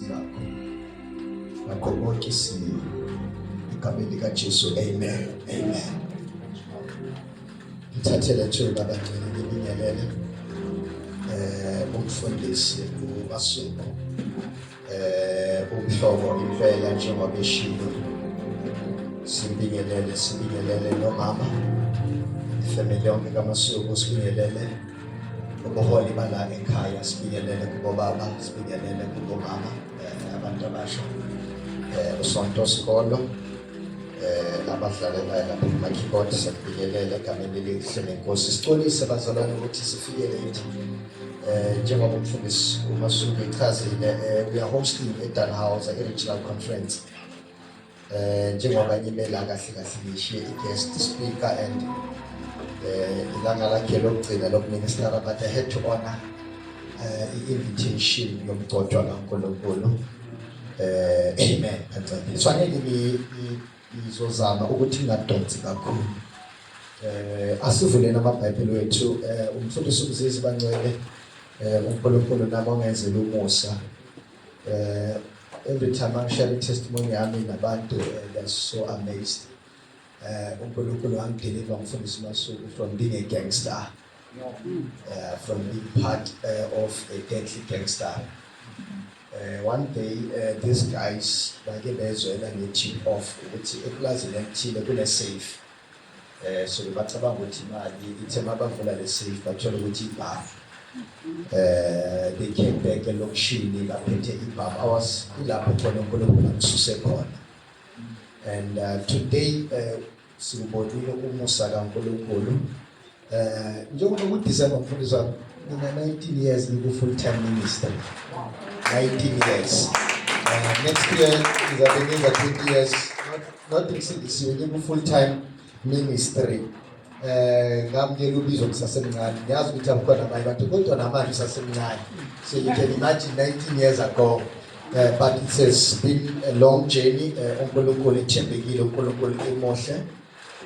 zakho ngakho konke isimo egameni likaJesu amen amen ngithathele thuba abagcina ngibingelele eh umfundisi uMasuku eh umhlobo impela njengoba eshilo sibingelele sibingelele nomama ifamily yonke kaMasuku sibingelele ubuholi bala ekhaya sifikelele kubobaba sifikelele kubomama eh, abantu abasha eh, usonto sikolo eh, abadlale naye lapho kumakeyboard sifikelele egameni elihle nenkosi sicolise bazalwane ukuthi sifikele yithi um njengoba umfundisi umasuku echazile uyahostiwe edan house i-regional conference Eh njengoba ngimela kahle kahle ngishiye i-guest speaker and eh ilanga lakhe lokugcina lokuministera but I had to honor eh i-invitation yomgcotshwa kaNkulunkulu. Eh amen. Kufanele ngizozama ukuthi ngadonsi kakhulu. Eh asivuleni amaBhayibheli wethu eh umfundisi uMzizi bancwele eh uNkulunkulu nabo ngenzela umusa. Uh, every time I'm sharing testimony yami nabantu uh, they're so amazed. Uh, uNkulunkulu wangideliver mfundisi Masuku from being a gangster. Uh, from being part uh, of a deadly gangster. Uh, one day uh, these guys bake bezwela nge-tip off ukuthi epulazini elithile kune-safe eh so bacabanga ukuthi imali ithe mabavula le safe bathola ukuthi ibhavu eh they came back elokishini baphethe ibhavu awas kulapho khona uNkulunkulu akususe khona and uh, today uh, siwubonile umusa kaNkulunkulu Eh njengoba ku December mfundisi wami mina 19 years ngiku full time ministry. 19 years. Uh, next year ngizabe ngiza 20 years not ngisindisiwe ngiku full time ministry. Eh ngamukela ubizo ngisasemncane. Ngiyazi ukuthi abukhona abanye abantu kodwa namanje usasemncane. So you can imagine 19 years ago uh, but it has been a long journey eh, uNkulunkulu ethembekile uNkulunkulu emuhle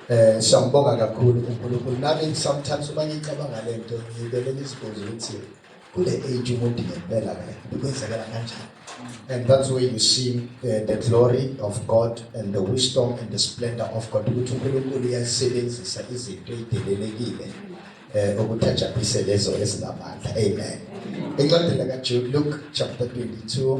Eh siyambonga kakhulu uNkulunkulu nami sometimes uma ngicabanga lento ngibele ngizibuze ukuthi kule age umuntu ngempela ke kwenzekela kanjani and that's where you see uh, the glory of God and the wisdom and the splendor of God ukuthi uNkulunkulu uyasebenzisa izinto ezidelelekile eh ukuthajaphise lezo ezinamandla amen incwadi lakaJude Luke chapter 22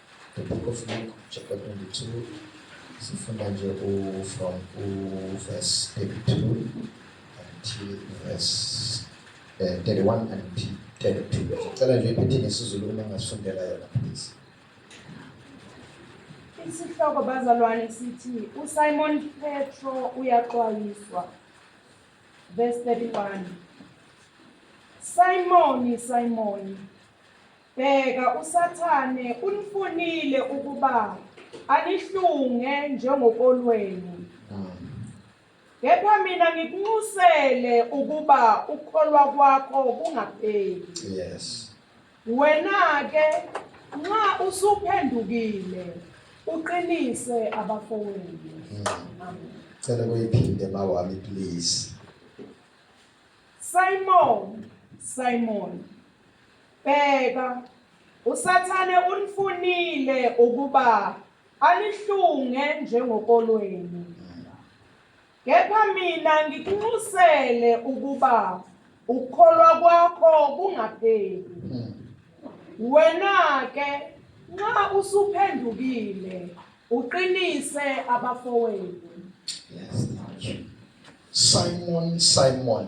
The book of Luke chapter 22 sifunda nje u from u verse 32 until verse uh, eh, 31 and 32. Cela nje iphethe ngesizulu uma ngasifundela yona please. Isihloko bazalwane sithi uSimon Petro uyaxwayiswa. Verse 31. Simoni, Simoni Bheka, uSathane unifunile ukuba anihlunge njengokolweni. Kepha mina ngikunxusele ukuba ukholwa kwakho kungapheli. Yes. Wena ke nxa usuphendukile uqinise abafowenu. Amen. Cela kuyiphinde mawami please. Simon, Simon. Bheka, uSathane unifunile ukuba anihlunge njengokolweni. Kepha mina ngikunxusele ukuba ukukholwa kwakho kungapheli. Wena-ke nxa usuphendukile uqinise abafowethu. Yes, Simon, Simon.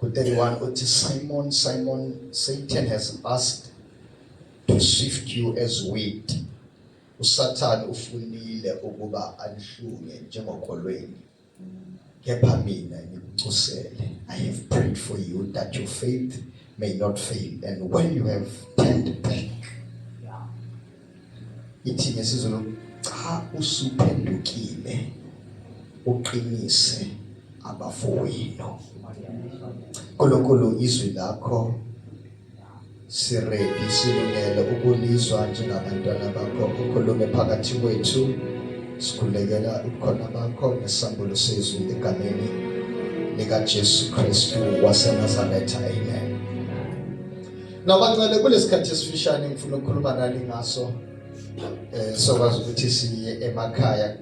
Ku-31 uthi Simon, Simon, Satan has asked to sift you as wheat. USathane ufunile ukuba anihlunge njengokholweni. Kepha mina ngikucusele. I have prayed for you that your faith may not fail and when you have turned back ithi ngesizulu cha usuphendukile uqinise abafowenu nkulunkulu izwi lakho siredi silungele ukulizwa njengabantwana bakho ukhulume phakathi kwethu sikhulekela ubukhona bakho nesambulo sezwi egameni likajesu kristu wasenazaretha amen Ngabancane kulesikhathi esifishane ngifuna ukukhuluma nani ngaso eh sokwazi ukuthi siye emakhaya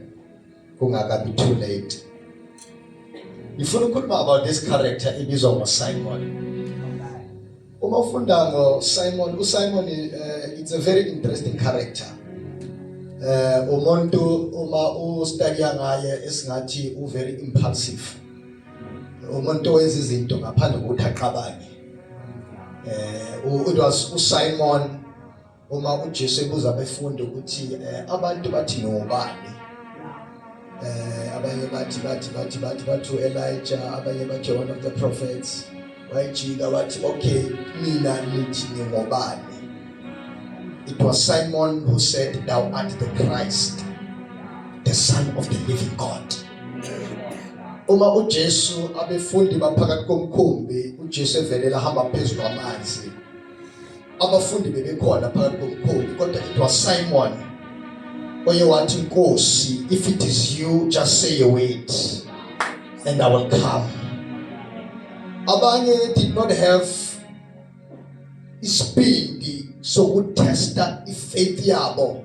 kungakabi too late. Ngifuna ukukhuluma about this character ibizwa ngoSimon. Uma ufunda ngoSimon, uSimon uh, it's a very interesting character. Eh uh, umuntu uma u study ngaye esingathi u very impulsive. umuntu owenza izinto ngaphandle kokuthi aqabane eh it was uSimon uma uJesu ebuza abafundi ukuthi eh, abantu bathi nobani eh abanye bathi bathi bathi bathi bathu Elijah abanye bathi one of the prophets wayejika wathi okay mina nithi ngingobani it was simon who said thou art the christ the son of the living god uma ujesu abefundi baphakathi komkhumbi ujesu evelela hamba phezu kwamanzi abafundi bebekhona phakathi komkhulu kodwa it was Simon oye wathi inkosi if it is you just say a word and I will come abanye did not have isibindi sokutesta ifaith yabo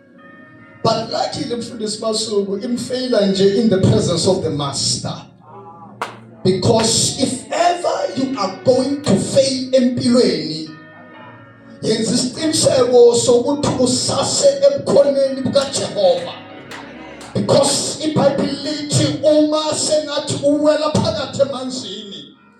but luckily mfundisi Masuku imfeyila nje in the presence of the master because if ever you are going to fail empilweni yenza isiqiniseko sokuthi usase ebukhoneni bukaJehova because ibhayibheli lithi uma sengathi uwela phakathi emanzini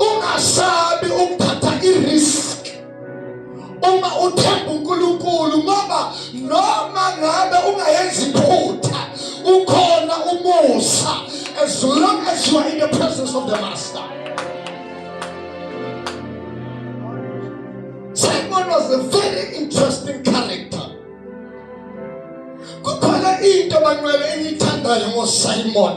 ungasabi ukuthatha irisk uma uthemba uNkulunkulu ngoba noma ngabe ungayenzi iphutha ukhona umusa as long as you are in the presence of the master Simon was a very interesting character kukhona into banqwele engiyithandayo ngoSimon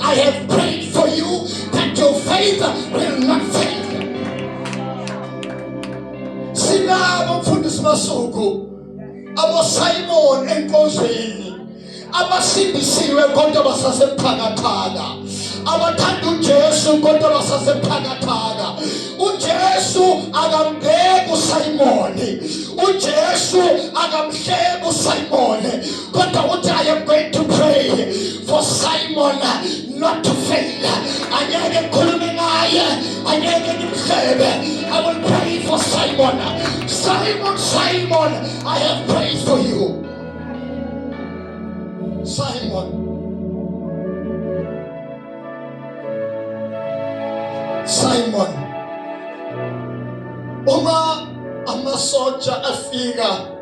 I have prayed for you that your faith will not fail. Sinabo mfundisi Masuku aboSimon enkonzweni abasindisiwe kodwa basasebuthakathaka abathanda uJesu kodwa basasebuthakathaka uJesu akambheki uSimon uJesu akamhleki uSimon kodwa uthi i am going to pray for simon not to fail angeke ngikhulume ngaye angeke ngimhlebe i will pray for simon simon simon i have prayed for you simon simon uma amasotsha afika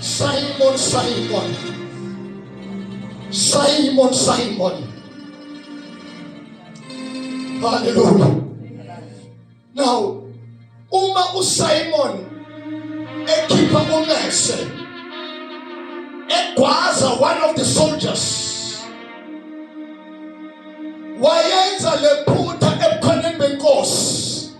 Simon, Simon, Simon, Simon. Hallelujah. Now, uma uSimon ekhipha umese egwaza one of the soldiers wayenza lephutha ebukhoneni benkosi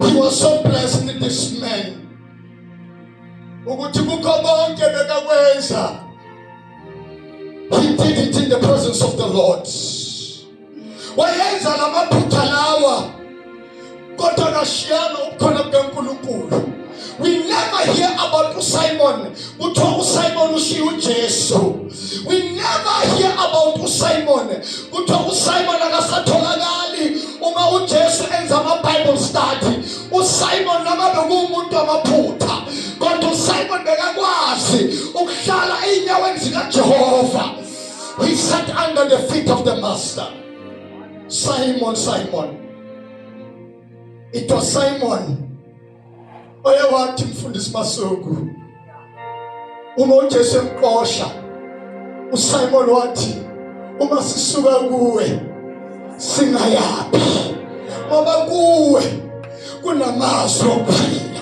He was so blessed with this man. Ukuthi kukho konke bekakwenza. He did it in the presence of the Lord. Wayenza lamaphutha lawa kodwa kashiyana ukukhona kukaNkulunkulu. We never hear about uSimon. Kuthiwa uSimon ushiya uJesu. We never hear about uSimon. Kuthiwa uSimon akasatholakali uma uJesu enza ama Bible study. USimon noma bekuwumuntu amaphutha. Kodwa uSimon bekakwazi ukuhlala einyaweni zikaJehova. He sat under the feet of the master. Simon, Simon. It was Simon oye wathi mfundisi Masuku uma uJesu emqosha uSimon wathi uma sisuka kuwe singayaphi ngoba kuwe kunamazwi okuphila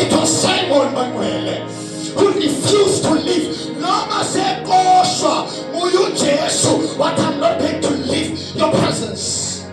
it was Simon Manuele who refused to leave noma seqoshwa nguye uJesu wathi I'm not going to leave your presence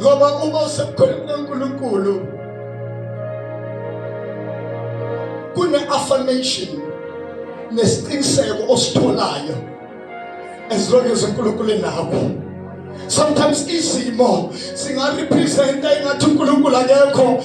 ngoba uma usebukhoneni kaNkulunkulu kune-affirmation nesiqiniseko ositholayo as long as uNkulunkulu enakho sometimes izimo singarepresenta ingathi uNkulunkulu akekho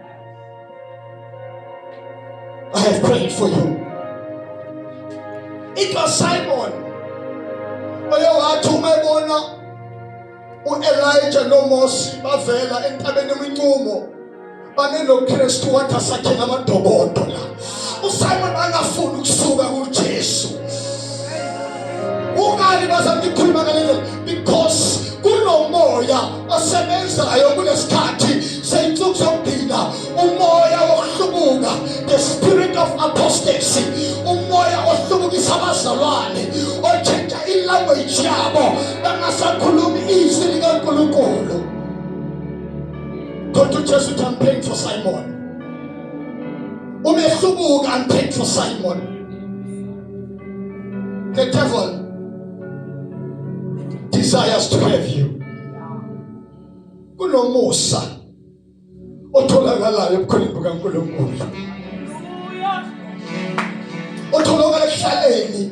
I have prayed for you. It was Simon. Oye wathi uma ebona uElijah noMose bavela entabeni umincumo banenoKristu wathi asakhe ngamadobodo la. uSimon angafuni ukusuka kuJesu ungani bazama ukukhuluma ngalelo because kunomoya osebenzayo kulesikhathi seyinsuku zokugcina umoya wokuhlubuka the spirit of apostasy umoya ohlubukisa abazalwane otshintsha ilanguage yabo bangasakhulumi izwi likaNkulunkulu kodwa uJesu uthi I'm praying for Simon umehluko kampetro simon the devil desires to have you kunomusa otholakalayo ebukhoneni bukaNkulunkulu otholakala ekuhlaleni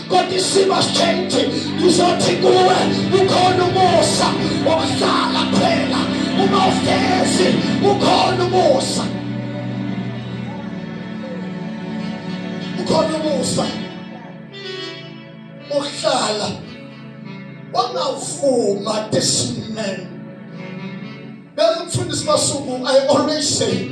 kodwa isimo sitshentshe ngizothi kuwe ukhona umusa wokuhlala phela uma ufezi ukhona umusa ukhona umusa uhlala wangavuma this man bengimfundisi masuku i always say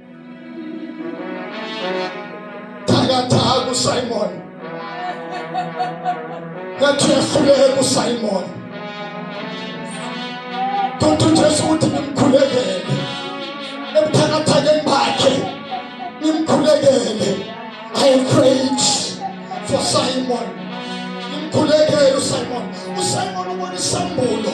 Thakatha kuSimon. Ngathi uyahluleka kuSimon. Kodwa uJesu uthi ngimkhulekele. Ebuthakathakeni bakhe ngimkhulekele. I prayed for Simon. Ngimkhulekele uSimon. USimon ubona isambulo.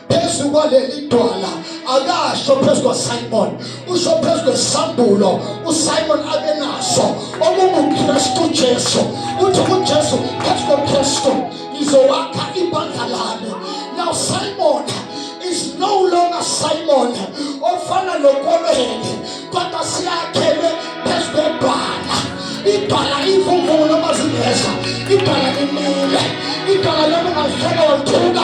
phezu kwaleli dwala akasho phezu kwasimon usho phezu kwesambulo usimon abenaso okungukristu jesu uthi kujesu phezu kokristu ngizowakha ibandla lami now simon is no longer simon ofana lokolweni kodwa siyakhelwe phezu kwebhala ibhala imvumvumo lomazingeza ibhala limile ibhala lomungazifela wathuka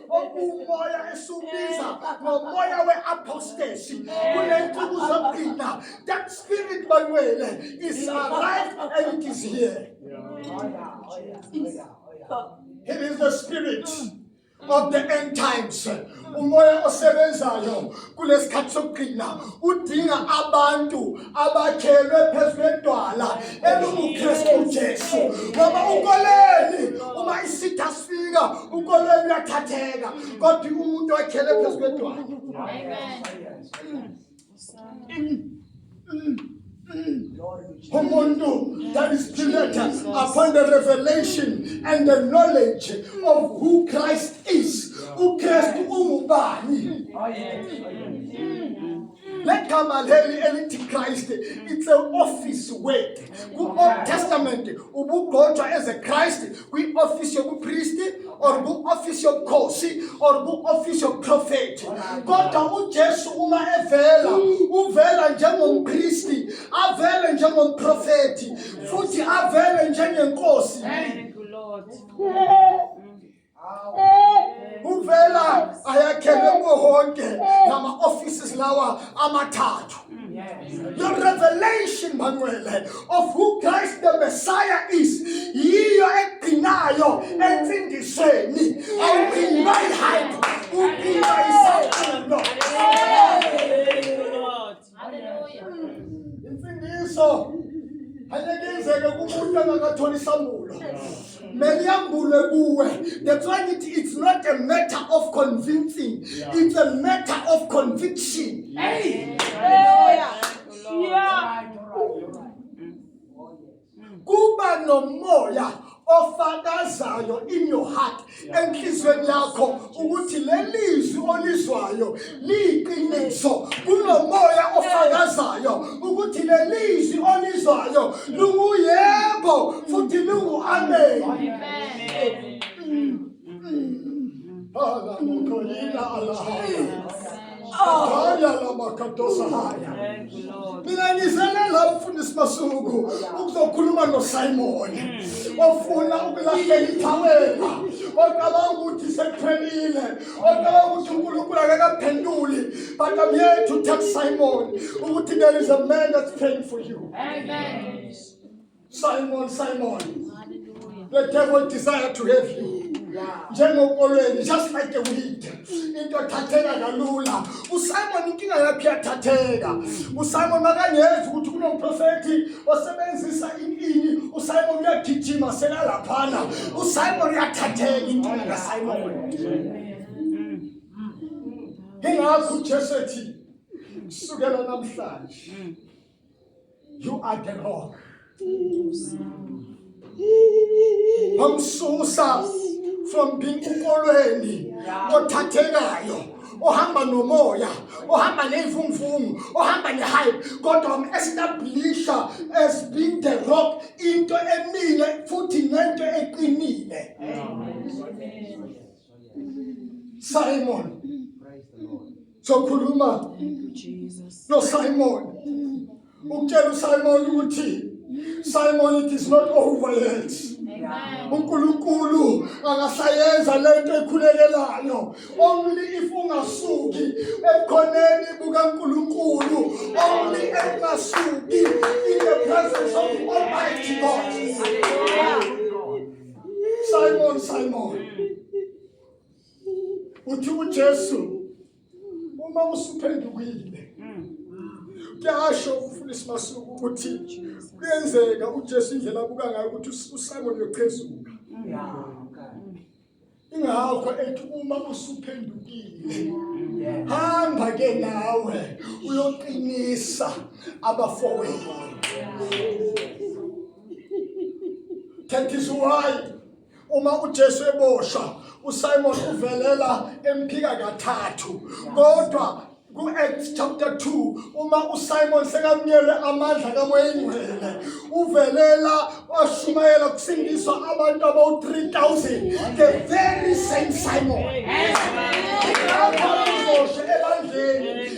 okuwumoya esiwubiza ngomoya we-apostasy kule nsuku zokugcina that spirit banwele is arrived and it is here it is the spirit of the end times umoya osebenzayo kulesikhathi sokugcina udinga abantu abakhelwe phezu kwedwala elunguKristu Jesu ngoba ukoleni uma isitha sifika ukoleni uyathatheka kodwa umuntu okhele phezu kwedwala umuntu that is created upon the revelation and the knowledge of who Christ is uKristu ungubani oh, legama leli elithi Christ it's an office word ku Old Testament ubugqotshwa as a Christ kwi office yobupriest or ku office yobukhosi or ku office yobuprophet kodwa uJesu uma evela uvela njengompriesti avele njengomprofeti futhi avele njengenkosi thank you lord uvela ayakhelwe kuwo konke ngama-offices lawa amathathu the revelation bangcwele of who christ the messiah is yiyo egcinayo ensindisweni awuphindwa ihayi uphindwa isaqino Haleluya. Imfundiso ayekenzeke kumuntu angakatholi isambulo mele yambulwe kuwe that's why ngithi it's not a matter of convincing yeah. it's a matter of conviction hey. Hey. Yeah. kuba nomoya ofakazayo in your heart enhlizweni yakho ukuthi lelizwi olizwayo liyiqiniso kunomoya ofakazayo ukuthi lelizwi olizwayo lunguyebo futhi lungu amen Hala mokoyina alahaya. Haya la makatosa haya. Mina ngizelela umfundisi Masuku ukuzokhuluma noSimon. Ofuna ukulahlela ithawela. Ocabanga ukuthi sekuphelile. Ocabanga ukuthi uNkulunkulu akakaphenduli. But I'm here to tell Simon ukuthi there is a man that's praying for you. Amen. Simon, Simon, Hallelujah. the devil desire to have you. njengokolweni just like the weed into athatheka kalula usimon inkinga yakhe yathatheka usimon makangezi ukuthi kunomprofethi osebenzisa inini usimon uyagijima selalaphana usimon uyathatheka inkinga kasimon ingakho ujesu ethi kusukela namhlanje You are the Lord. Wamsusa from being ukolweni othathekayo ohamba nomoya ohamba nezimvumu ohamba nehype kodwa establiisha as being the rock into emile futhi nento eqinile Simon. Sokhuluma no Simon. Ukutshela uSimon ukuthi Simon it is not over yet. uNkulunkulu akasayenza lento ekhulekelayo only if ungasuki ebukhoneni bukaNkulunkulu only engasuki in the presence of Almighty God Simon, Simon. Uthi uJesu uma usuphendukile kuyasho ukufuna isimasuku ukuthi kuyenzeka uJesu indlela abuka ngayo ukuthi uSimon uyochezuka. Ingakho ethi uma usuphendukile hamba ke nawe uyoqinisa abafowenu. That is why uma uJesu eboshwa uSimon uvelela emphika kathathu kodwa ku-acts chapter 2 uma usimon sekamnyele amandla kamoyengcwele uvelela washumayela kusindiswa abantu abawu-3000 the very same simon ebandleni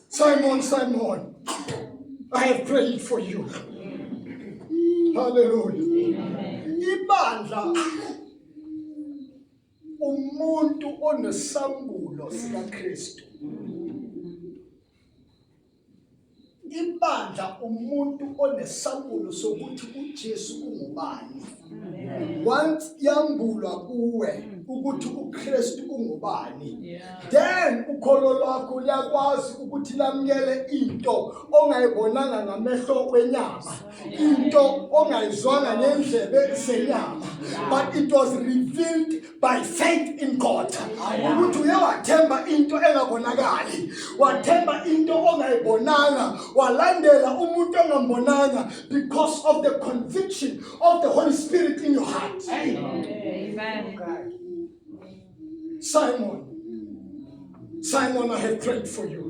Simon, Simon, I have prayed for you. Hallelujah. Ibandla umuntu onesambulo sikaKristu. Ibandla umuntu onesambulo sokuthi uJesu ungubani. once yambulwa kuwe ukuthi uKristu ungubani then ukholo lwakho liyakwazi ukuthi lamukele into ongayibonanga ngamehlo wenyama into ongayizwanga ngendlebe senyama but it was revealed by faith in God ukuthi uye wathemba into engakonakali wathemba into ongayibonanga walandela umuntu ongambonanga because of the conviction of the Holy Spirit in your heart amen Simon Simon I have prayed for you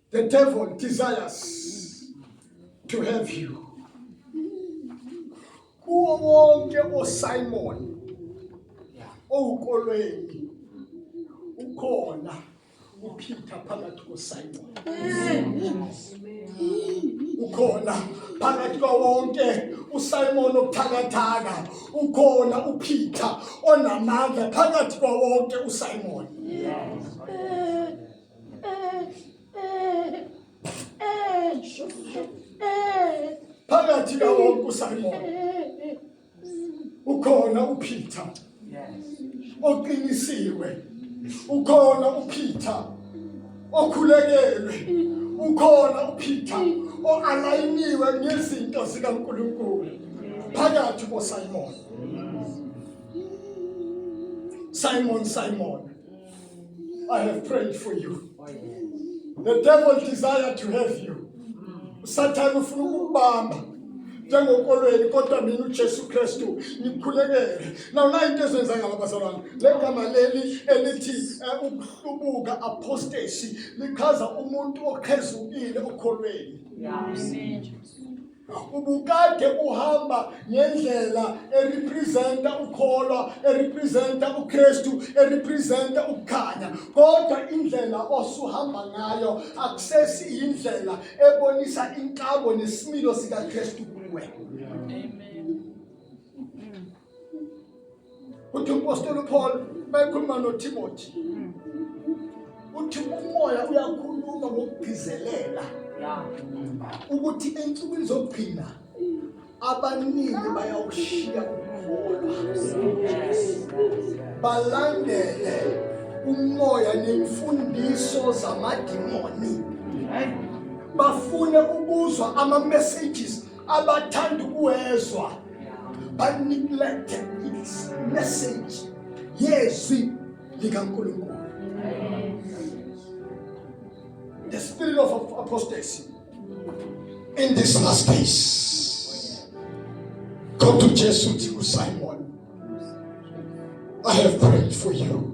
The devil desires to have you. Kuwo wonke oSimon owukolweni ukhona uPeter phakathi koSimon. Ukhona phakathi kwawonke uSimon obuthakathaka, ukhona uPeter onamandla phakathi kwawonke uSimon. Yes. phakathi kawonke usimon ukhona upeter oqinisiwe ukhona upeter okhulekelwe ukhona upeter oalayiniwe ngezinto zikankulunkulu phakathi kosimon simon simon I have prayed for you. The devil desire to have you. usathane ufuna ukubamba njengokolweni kodwa mina uJesu Kristu ngikhulekele now la into ezenza ngaba bazalwane legama leli elithi eh, ukuhlubuka apostasy lichaza umuntu okhezukile okholweni amen ubukade uhamba ngendlela erepresenta ukholwa erepresenta uKristu erepresenta ukukhanya kodwa indlela osuhamba ngayo akusesi indlela ebonisa inkabo nesimilo sikaKristu kuwe amen uthi umpostoli uPaul mayekhuluma noTimothy mm. uthi umoya uyakhuluma ngokugcizelela ukuthi ensukwini zokugcina abaningi bayawushiya ukukholwa balandele umoya nemfundiso zamadimoni bafune ukuzwa ama-messages abathanda ukuwezwa baneglect message yezwi likaNkulunkulu the spirit of apostasy in this last days go to Jesu uthi uSimon I have prayed for you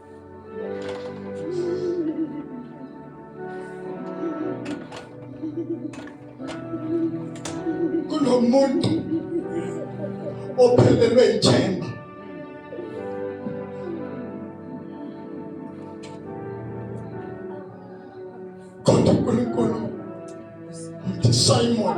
kunomuntu ophelelwe ithemba kodwa uNkulunkulu uthi Simon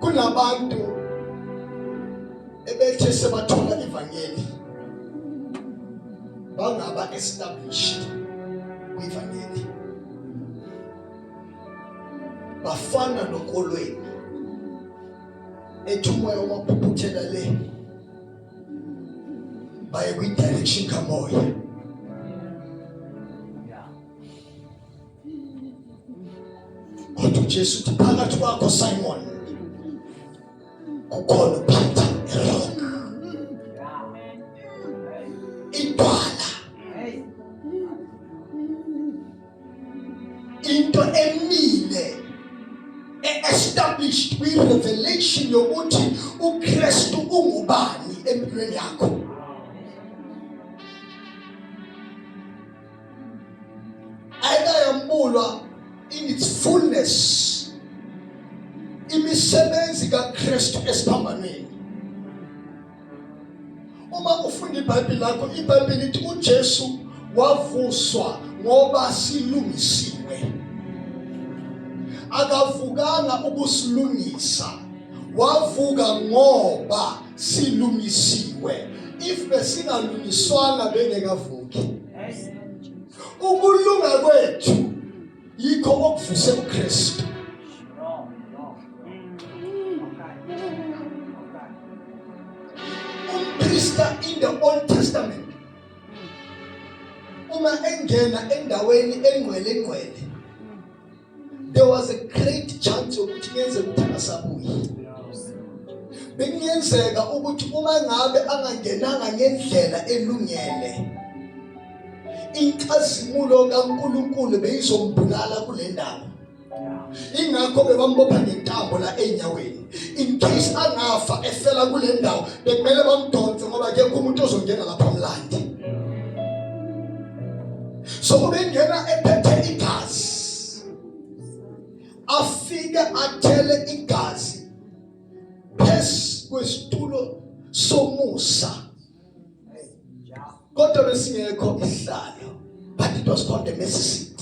kunabantu ebethe sebathola ivangeli bangaba established kwivangeli bafana nokolweni ethi umoya wamaphuphuthela le baye kwidirection kamoya kodwa ujesu uthi phakathi kwakho simon kukhona uphetha erong into emile e-established kwi-revelation yokuthi ukristu ungubani empilweni yakho ayikayambulwa in its fullness imisebenzi kakristu esiphambanweni Uma ufunda iBhayibheli lakho, iBhayibheli lithi uJesu wavuswa ngoba silungisiwe. Akavukanga ukusilungisa. Wavuka ngoba silungisiwe. If besingalungiswanga bengekavuki. Ukulunga kwethu yikho okuvuse uKristu umprista in the old testament uma engena endaweni engcwele engcwele there was a great chance ukuthi kuyenzeka ukuthi angasabuyi bekungenzeka ukuthi uma ngabe angangenanga ngendlela elungele inkazimulo kaNkulunkulu beyizombulala kule ndawo ingakho bebambopha ngentambo la enyaweni in case angafa efela kule ndawo bekumele bamdonse ngoba ke umuntu ozongena lapha mlandi so ubengena ephethe igazi afike athele igazi phezu kwesitulo somusa kodwa besingekho isihlalo but it was called the mercy seat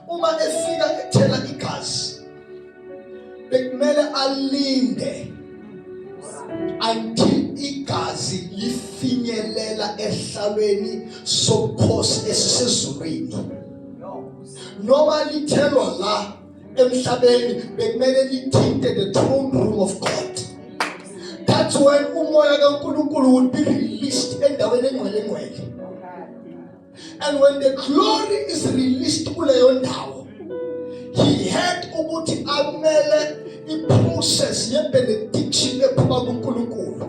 uma efika ethela igazi bekumele alinde until igazi lifinyelela ehlalweni sobukhosi esisezulwini noma lithelwa la emhlabeni bekumele lithinte the throne room of God that's when umoya kaNkulunkulu would be released endaweni engcwele ngcwele and when the glory is released kuleyo ndawo he had ukuthi amele iprocess yebenediction ephuma kuNkulunkulu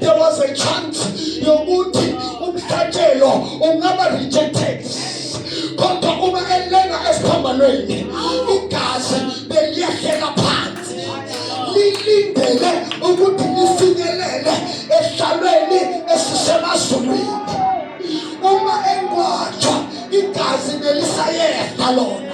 there was a chance yokuthi umhlatshelo ungaba rejected kodwa uma elenga esiphambanweni igazi beliyehlela phansi lilindele ukuthi lifinyelele esihlalweni esisemazulwini uma engwatshwa igazi belisayehla lona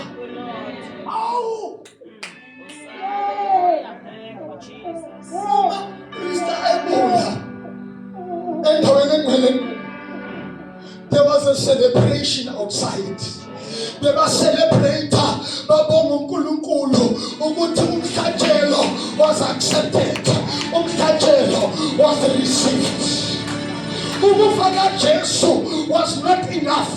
There was a celebration outside. They were celebrating babonga uNkulunkulu ukuthi umhlatshelo was accepted. Umhlatshelo was received. Ukufa kaJesu was not enough.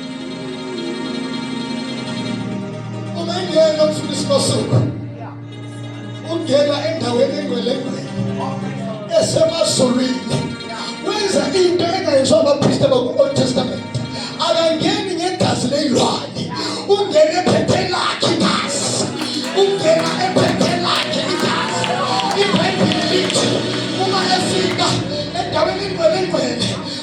Ungangena ufuna isibasuka. Ungena endaweni engwelengwele. Esemazulwini. Wenza into engayizwa abapristi baku-Old Testament. Akangeni ngegazi leyilwane. Ungena ephethe lakhe igazi. Ungena ephethe lakhe igazi. IBhayibheli lithi uma efika endaweni engwelengwele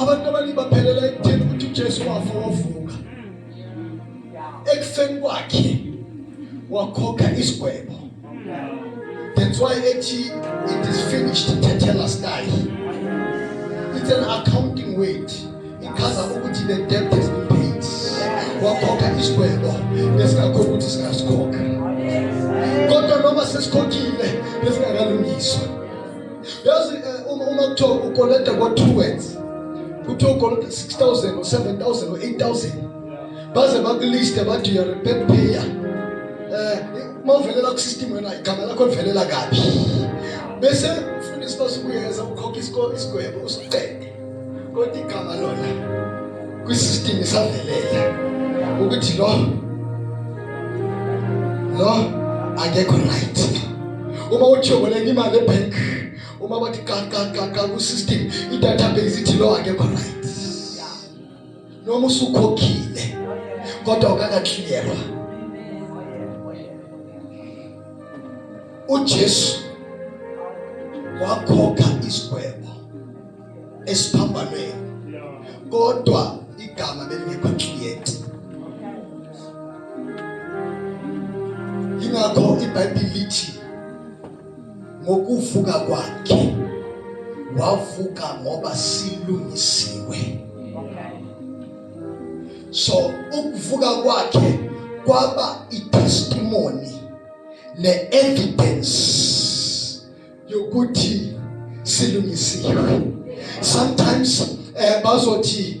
Abantu abaningi baphelela ekutheni ukuthi uJesu wafa wavuka. Ekufeni kwakhe wakhokha isigwebo. That's why ethi it is finished tetelestai. It's an accounting word. Ichaza ukuthi the debt has been paid. Wakhokha isigwebo nesingakho ukuthi singasikhokha. Kodwa noma sesikhokhile besingakalungiswa. yazi eh, uma uma kuthiwa ukoleta ngo two words kuthiwa ukoleta 6000 or 7000 or 8000 baze bakuliste bathi you are a bad payer eh uma uvelela ku system wena igama lakho livelela kabi bese ufundisi basukuyeza ukhokha isikole isigwebo usiqede kodwa igama lona kwisystem isavelela ukuthi lo lo akekho right uma ujoboleka imali ebank uma bathi ka ka ka ka ku system idatabase ithi lo akekho right noma usukhokhile kodwa ukakakliyelwa uJesu wakhokha isigwebo esiphambanweni kodwa igama belingekho cleared ingakho iBhayibheli lithi ngokuvuka kwakhe wavuka ngoba silungisiwe so ukuvuka kwakhe kwaba itestimony ne-evidence yokuthi silungisiwe sometimes eh bazothi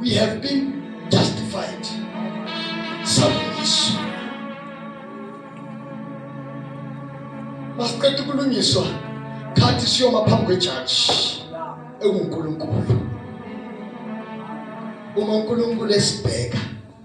We have been justified. Salvation. Masiqeda ukulungiswa khathi siyoma phambi kwejaji enguNkulunkulu. Uma uNkulunkulu esibheka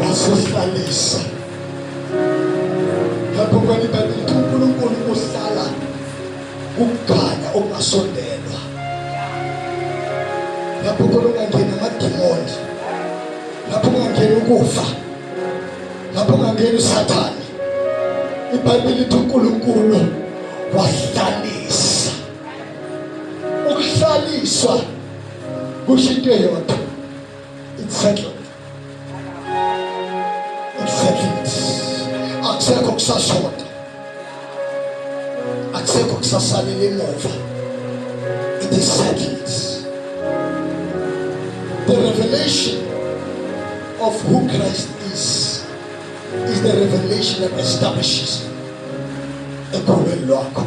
wasihlalisa lapho kwani bakithi uNkulunkulu uhlala ukugana okungasondelwa lapho khona ungangena amadimoni lapho ungangena ukufa lapho ungangena usathane ibhayibheli lithi uNkulunkulu wahlalisa ukuhlaliswa kusho into eyodwa it's settled it's settled akusekho kusashoda akusekho kusasalela emuva it is settled the revelation of who Christ is is the revelation that establishes ekhulwini lwakho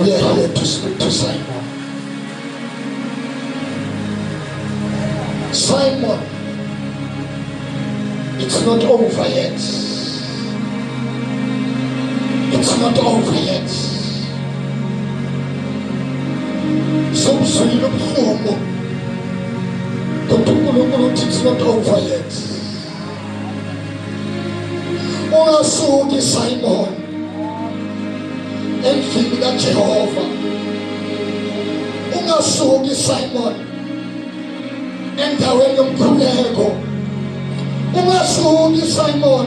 uyalalela to Simon Simon it's not over yet it's not over yet sobuzwile ubuhlungu kodwa uNkulunkulu uthi it's not over yet ungasuki Simon endlini kaJehova ungasuki Simon endaweni yomkhuleko ungasuki Simon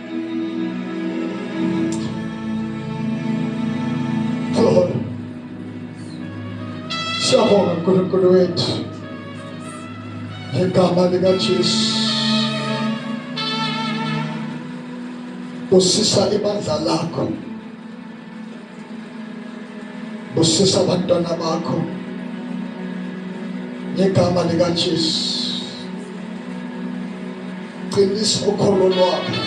Siyabonga uNkulunkulu wethu ngegama likaJesu usisa ibandla lakho busisa abantwana bakho ngegama likaJesu qinisa ukholo lwabo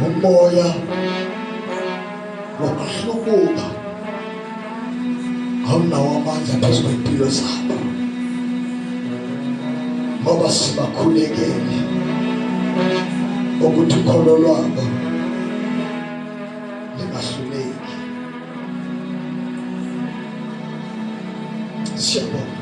umoya wokuhlubuka awunawo amandla phezu kwempilo zabo ngoba sibakhulekele ukuthi ukholo lwabo lingahluleki siyabonga